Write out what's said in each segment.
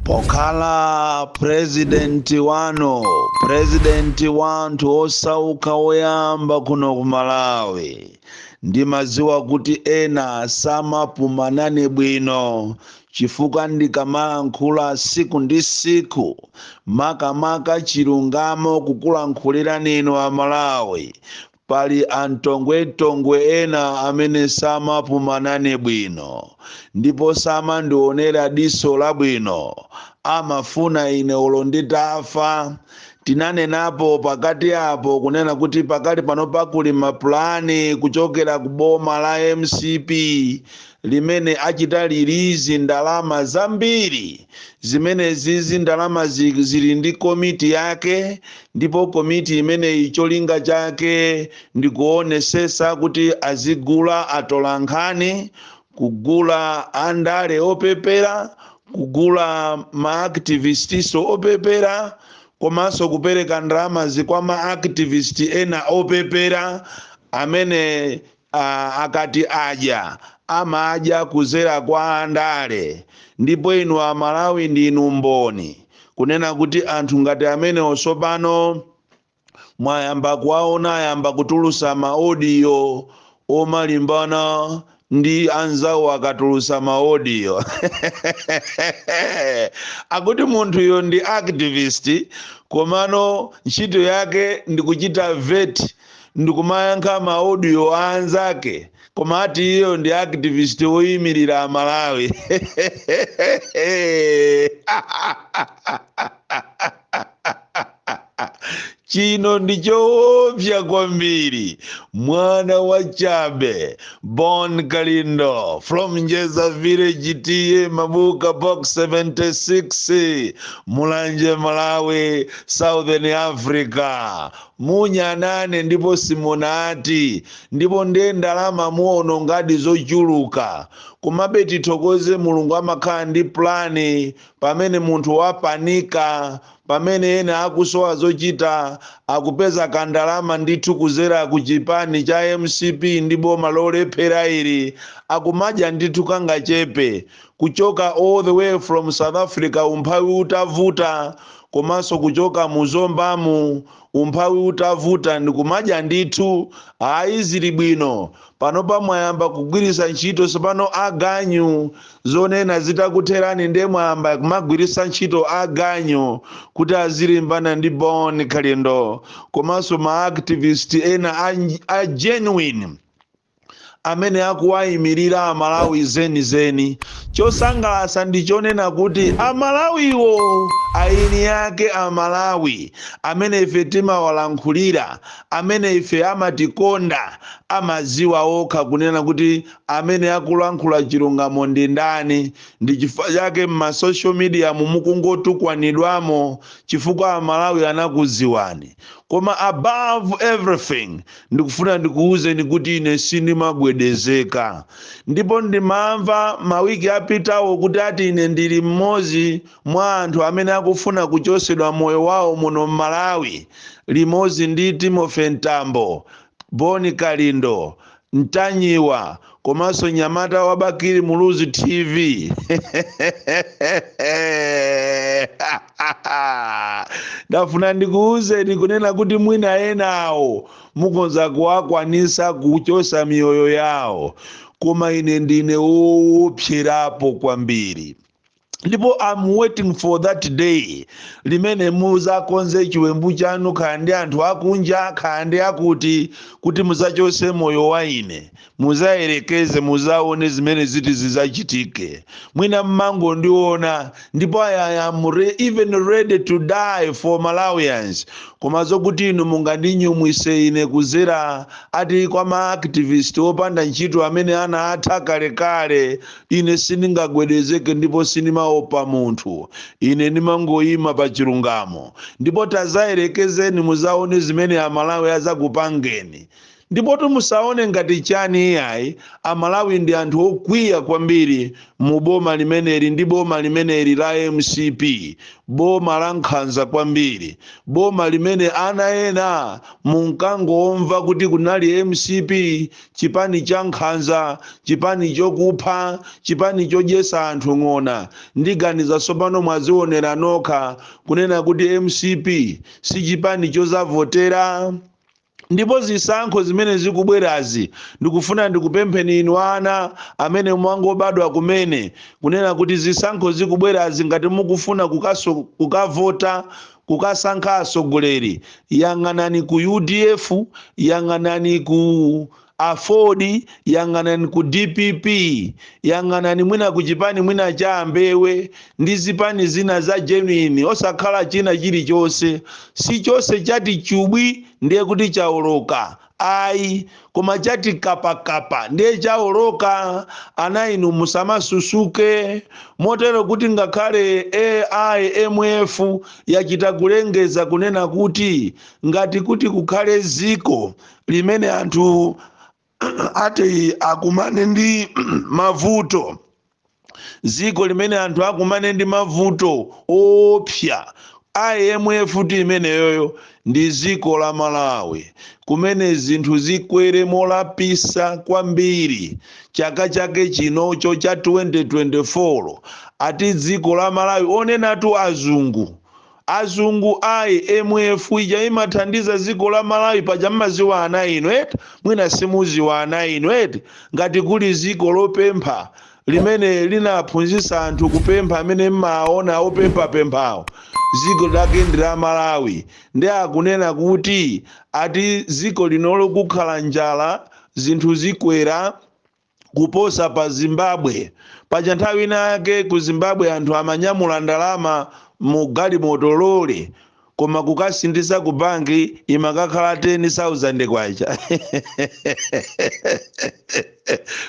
pokhala purezidenti wanu purezidenti wa anthu osauka woyamba kuno ku malawi ndimadziwa kuti ena samapuma nane bwino chifukwa ndikamalankhula siku ndi siku makamaka chilungamo kukulankhulirani inu amalawi Pali amtongwemtongwe ena amene samapuma nane bwino ndipo samandionera diso labwino. Amafuna ine olo nditafa. Tinanenapo pakati apo kunena kuti pakali panopa kuli mapulani kuchokera ku boma la mcp limene achita lilizi ndalama zambiri. Zimenezizi ndalama zili ndi komiti yake ndipo komiti imeneyi cholinga chake ndi kuonesesa kuti azigula atolankhani, kugula andale opepera, kugula ma activist-so opepera komanso kupereka ndalamazi kwa ma activist ena opepera amene akati adya amadya kuzera kwa andale ndipo inu amalawi ndinu mboni kunena kuti anthu ngati amenewo sopano mwayamba kuwaona ayamba kutulusa maodiyo omalimbana ndi anzawo akatulusa maodiyo akuti munthuyo ndi activist komano ntchito yake ndikuchita vet ndikumayankha ma audio a anzake koma ati iyeyo ndi activist woyimirira amalawi chino ndi choopsa kwambiri mwana wa chabe bon kalindo from njeza village ta mabuka box 76 mulanje malawi southern africa Munyanane ndipo simunati, ndipo nde ndalama muonongadi zochuluka. Komabe tithokoze Mulungu amakhala ndi plan pamene munthu wapanika, pamene ena akusowa zochita akupeza ka ndalama ndithu kuzera ku chipani cha mcp ndi boma lolephera ili akumadya ndithu kangachepe kuchoka all the way from south africa umphawi utavuta, komanso kuchoka mu zombamu umphawi utavuta ndikumadya ndithu ayi zili bwino panopa mwayamba kugwiritsa ntchito tsopano aganyu zonena zitakutherani nde mwayamba kumagwiritsa ntchito aganyu kuti azilimbana ndi bon kalindo komanso maactivist ena a, a genuine amene akuwaimilira amalawi zenizeni chosangalasa ndichonena kuti amalawiwo aini yake amalawi amene ife timawalankhulira amene ife amatikonda amaziwa okha kunena kuti amene akulankhula chilungamo ndindani ndichifukwa chake mma social media mu mukungotukwanidwamo chifukwa amalawi anakuziwani koma above everything Ndikufuna ndikuwuzeni kuti ine sindimagwedezeka ndipo ndimamva mawiki apitawo kuti ati ine ndili mmodzi mwa anthu amene akufuna kuchotsedwa moyo wawo muno m'Malawi limodzi ndi Timothy Mtambo, Bon Kalindo, Ntanyiwa komanso mnyamata wa bakili muluzi tv ndafuna ndikuwuzeni kunena kuti mwina enawo mukhoza kuwakwanisa kuchosa miyoyo yawo koma ine ndine wowopserapo kwambiri ndipo I am waiting for that day limene muzakonze chiwembu chanu kaya ndi anthu akunja kaya ndi akuti kuti muzachose moyo wa ine muzayerekeze muzaone zimene ziti zizachitike mwina mmangondiona ndipo I, I am even ready to die for malawians koma zokuti inu mungandinyumwise ine kuzera ati kwa maactivist opanda ntchito amene anaatha kalekale Ine sindingagwedezeke ndipo sindimaopa munthu. Ine ndimangoima pa chilungamo. Ndipo tazayerekezeni muzaone zimene a Malawi azakupangeni. Ndipotu musaone ngati chani iyayi, a Malawi ndi anthu okwiya kwambiri mu boma limeneli ndi boma limeneli la mcp. Boma la nkhanza kwambiri. Boma limene ana ena munkangomva kuti kunali mcp chipani cha nkhanza chipani chokupha chipani chodyesa anthu ng'ona ndiganiza tsopano mwazionera nokha kunena kuti mcp si chipani chozavotera ndipo zisankho zimene zikubwerazi ndikufuna ndikupempheni inu ana amene mwangobadwa kumene kunena kuti zisankho zikubwerazi ngati mukufuna kukaso, kukavota Kukasankha atsogoleri, yang'anani ku udf, yang'anani ku aford, yang'anani ku dpp, yang'anani mwina ku chipani mwina cha a Mbewe ndi zipani zina za genuine osakhala china chilichonse. Si chonse chati chubwi ndiye kuti chaoloka ayi koma chati kapakapa ndiye chaoloka ana inu musamasusuke motero kuti ngakhale a IMF yachita kulengeza kunena kuti ngati kuti kukhale ziko limene anthu ati akumane ndi mavuto dziko limene anthu akumane ndi mavuto oopsa IMF ati imeneyoyo ndi dziko la Malawi kumene zinthu zikwere molapisa kwambiri chaka chake chinocho cha 2024 ati dziko la Malawi onenatu azungu Azungu IMF ija imathandiza dziko la Malawi paja mumadziwa ana inu eti? Mwina simudziwa ana inu eti? Ngati kuli dziko lopempha limene linaphunzitsa anthu kupempha amene mumawaona opemphapemphawo dziko lake ndi la Malawi nde akunena kuti ati dziko linolo kukhala njala zinthu zikwera, kuposa pa zimbabwe paja nthawi ina yake ku zimbabwe anthu amanyamula ndalama mu galimoto lole koma kukasinthitsa ku banki imakakhala 10000 kwacha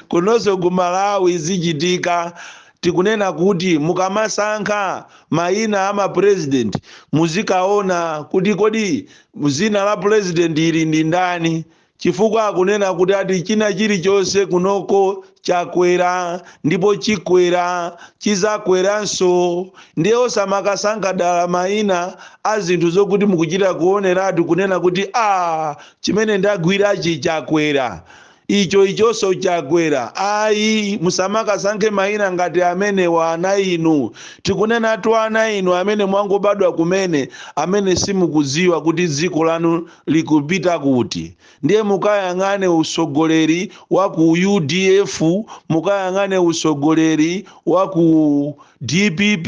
kunonso ku malawi zichitika tikunena kuti mukamasankha mayina a mapurezidenti muzikaona kuti kodi zina la purezidenti ili ndi ndani Chifukwa akunena kuti ati china chilichonse kunoko chakwera ndipo chikwera chizakweranso ndiye osamakasankha dala maina azinthu zokuti mukuchita kuoneratu kunena kuti aah chimene ndagwirachi chakwera icho ichonso chakwera ayi musamakasankhe maina ngati amenewa ana inu tikunenatu ana inu amene mwangobadwa kumene amene simukudziwa kuti dziko lanu likupita kuti? Ndiye mukayang'ane utsogoleri wa ku udf, mukayang'ane utsogoleri wa ku dpp,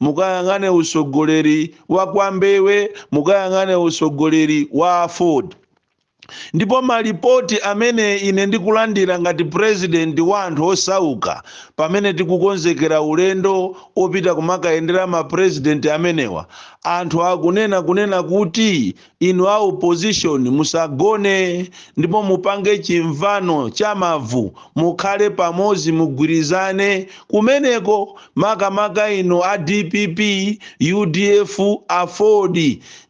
mukayang'ane utsogoleri wa kwa Mbewe, mukayang'ane utsogoleri wa aford ndipo malipoti amene ine ndikulandira ngati president wa anthu osauka pamene tikukonzekera ulendo opita kumakayendera ma president amenewa Anthu akunena kunena kuti inu a opposition musagone ndipo mupange chimvano cha mavu mukhale pamodzi mugwirizane kumeneko makamaka inu a dpp, udf, aford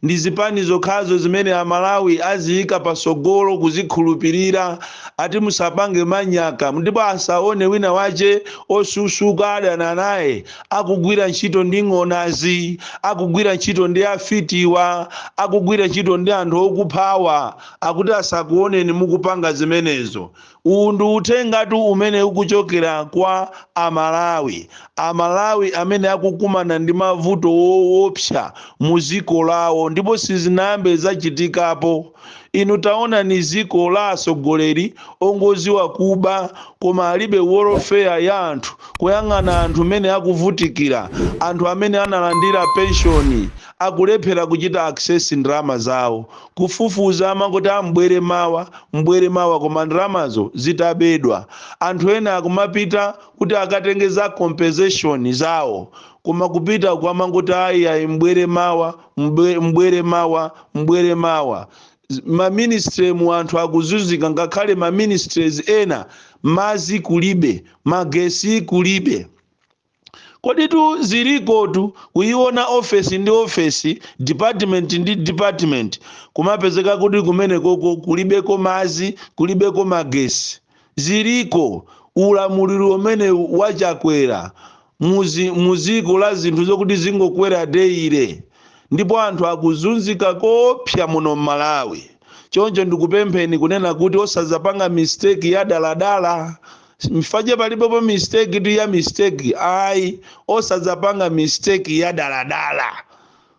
ndi zipani zokhazo zimene amalawi aziyika patsogolo kuzikhulupirira ati musapange manyaka ndipo asaonetse wina wache osusuka adana naye akugwira ntchito ndi ng'onazi akugwira ntchito ndi afitiwa akugwira ntchito ndi anthu okuphawa akuti asakuoneni mukupanga zimenezo uwu ndi uthengatu umene ukuchokera kwa amalawi amalawi amene akukumana ndi mavuto woopsa mu ziko lawo ndipo sizinayambe zachitikapo inu taonani ziko la atsogoleri ongoziwa kuba koma alibe welfare ya anthu kuyang'ana anthu mene akuvutikila anthu amene analandila pension akulephela kuchita access ndalama zawo kufufuza amangoti a m'bwere mawa m'bwere mawa koma ndalamazo zitabedwa anthu ena akumapita kuti akatenge za compensation zawo koma kupita uko amangoti ayi ayi m'bwere mawa mbwere mawa mbwere mawa maministry mu anthu akuzunzika ngakhale maministries ena mazi kulibe magesi kulibe koditu zilikotu kuyiona ofesi ndi ofesi department ndi department kumapezeka kuti kumenekoko kulibeko mazi kulibeko magesi ziliko ulamuliro umene wachakwera muziko la zinthu zokuti zingokwera deire ndipo anthu akuzunzika koopsa muno m'malawi choncho ndikupempheni kunena kuti osazapanga mistake ya daladala mfache palibepo mistake tu ya mistake ayi osazapanga mistake ya daladala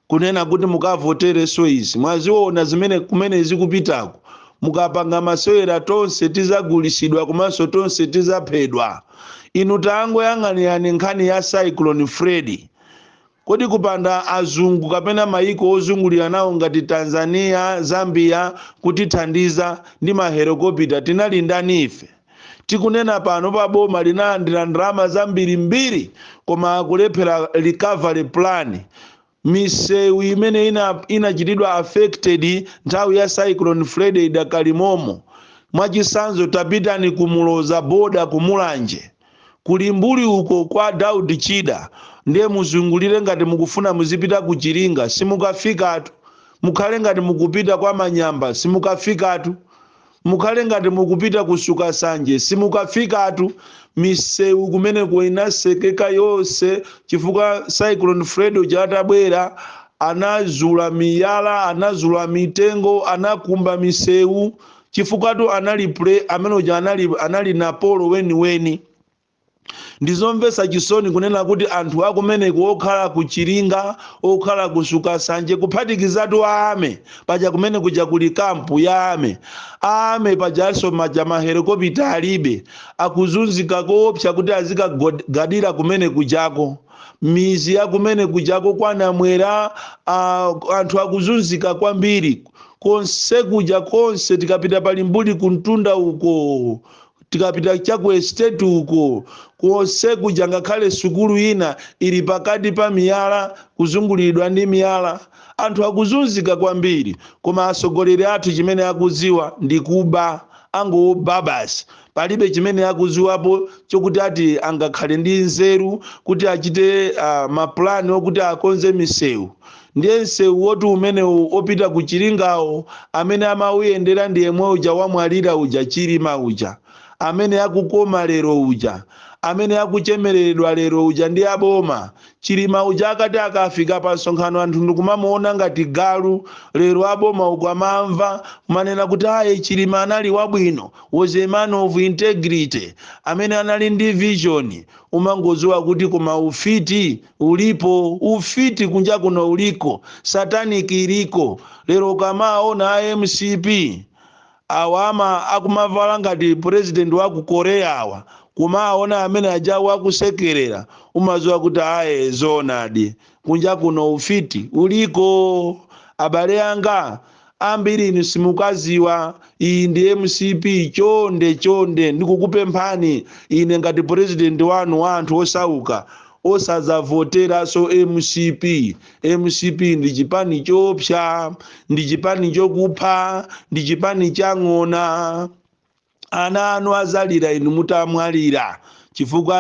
kunena kuti mukavotere soizi mwaziona zimene kumene zikupitako mukapanga masewera tonse tizagulisidwa komanso tonse tizaphedwa inu tangoyang'anirani nkhani ya cyclone freddy kodi kupanda azungu kapena mayiko ozungulira nawo ngati tanzania zambia kutithandiza ndi mahelokopita tinali ndani ife Tikunena panopa boma linalandira ndalama zambirimbiri koma akulephera recovery plan misewu imene inachitidwa affected nthawi ya cyclone Freddy idakali momo mwachisanzo tapitani ku Muloza border ku Mulanje ku Limbuli uko kwa Daud Chida ndiye muzungulire ngati mukufuna muzipita ku Chiringa simukafikatu mukhale ngati mukupita kwa Manyamba simukafikatu Mukhale ngati mukupita ku Sukasanje. Simukafikatu. Misewu kumeneko inasekeka yonse chifukwa Cyclone Freddy uja atabwera anazula miyala, anazula mitengo, anakumba misewu chifukwatu anali amene uja anali Napolo weniweni. Ndi zomvetsa chisoni kunena kuti anthu akumeneko okhala ku Chiringa, okhala ku Sukasanje, kuphatikizatu a Army, paja kumene kuja kuli camp ya Army, a Army pajanso paja ma helicopter alibe, akuzunzika koopsa kuti azikagod, gadira kumene kujako, mizi ya kumene kujako kwa Namwera, a, anthu akuzunzika kwambiri, konsekuja konse tikapita pa Limbuli kumtunda uko, tikapita cha ku estate uko konse kuja ngakhale sukulu ina ili pakati pa miyala kuzunguliridwa ndi miyala anthu akuzunzika kwambiri koma atsogoleri athu chimene akudziwa ndi kuba angoba basi palibe chimene akudziwapo chokuti ati angakhale ndi nzeru kuti achite uh, mapulani okuti akonze misewu Ndiye msewu woti umenewo opita ku Chiringawo amene amauyendera ndi yemwe uja wamwalira uja Chilima uja, amene akukoma lero uja, amene akuchemeleredwa lero uja ndi a boma. Chilima uja akati akafika pa msonkhano anthu ndikumamuona ngati galu, lero a boma ukuwamva kumanena kuti ayi Chilima anali wabwino, was a man of integrity, amene anali ndi vision, umangodziwa kuti koma ufiti. ulipo ufiti kunjakuno uliko satanic iliko lero ukamaona a mcp awa ama akumavala ngati president wa ku korea awa kumaona amene ajawo akusekerera umaziwa kuti ayi zoonadi kunjakuno ufiti uliko abale anga Ambiri inu simukuziwa iyi ndi mcp chonde chonde ndikukupemphani ine ngati president wanu wa anthu osauka osazavoteranso mcp mcp ndi chipani choopsa ndi chipani chokupha ndi chipani cha ng'ona. Ana anu adzalira inu mutamwalira, chifukwa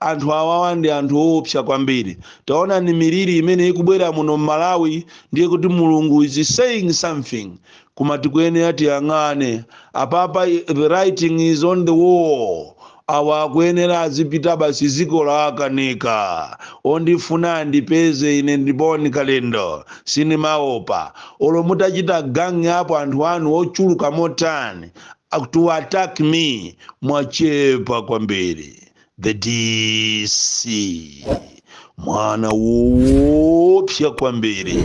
anthu awawa ndi anthu oopsa kwambiri. Taonani miliri imene ikubwera muno m'Malawi ndiye kuti Mulungu is saying something. Koma tikuyenera tiyang'ane. Apapa the writing is on the wall. Awa akuyenera azipita basi dziko lawakanika. Ondifuna andipeze ine ndi Bon Kalindo. Sindimaopa. Olo mutachita gang up anthu anu ochuluka motani. Ak- to attack me mwachepa kwambiri the dc mwana woopsya kwambiri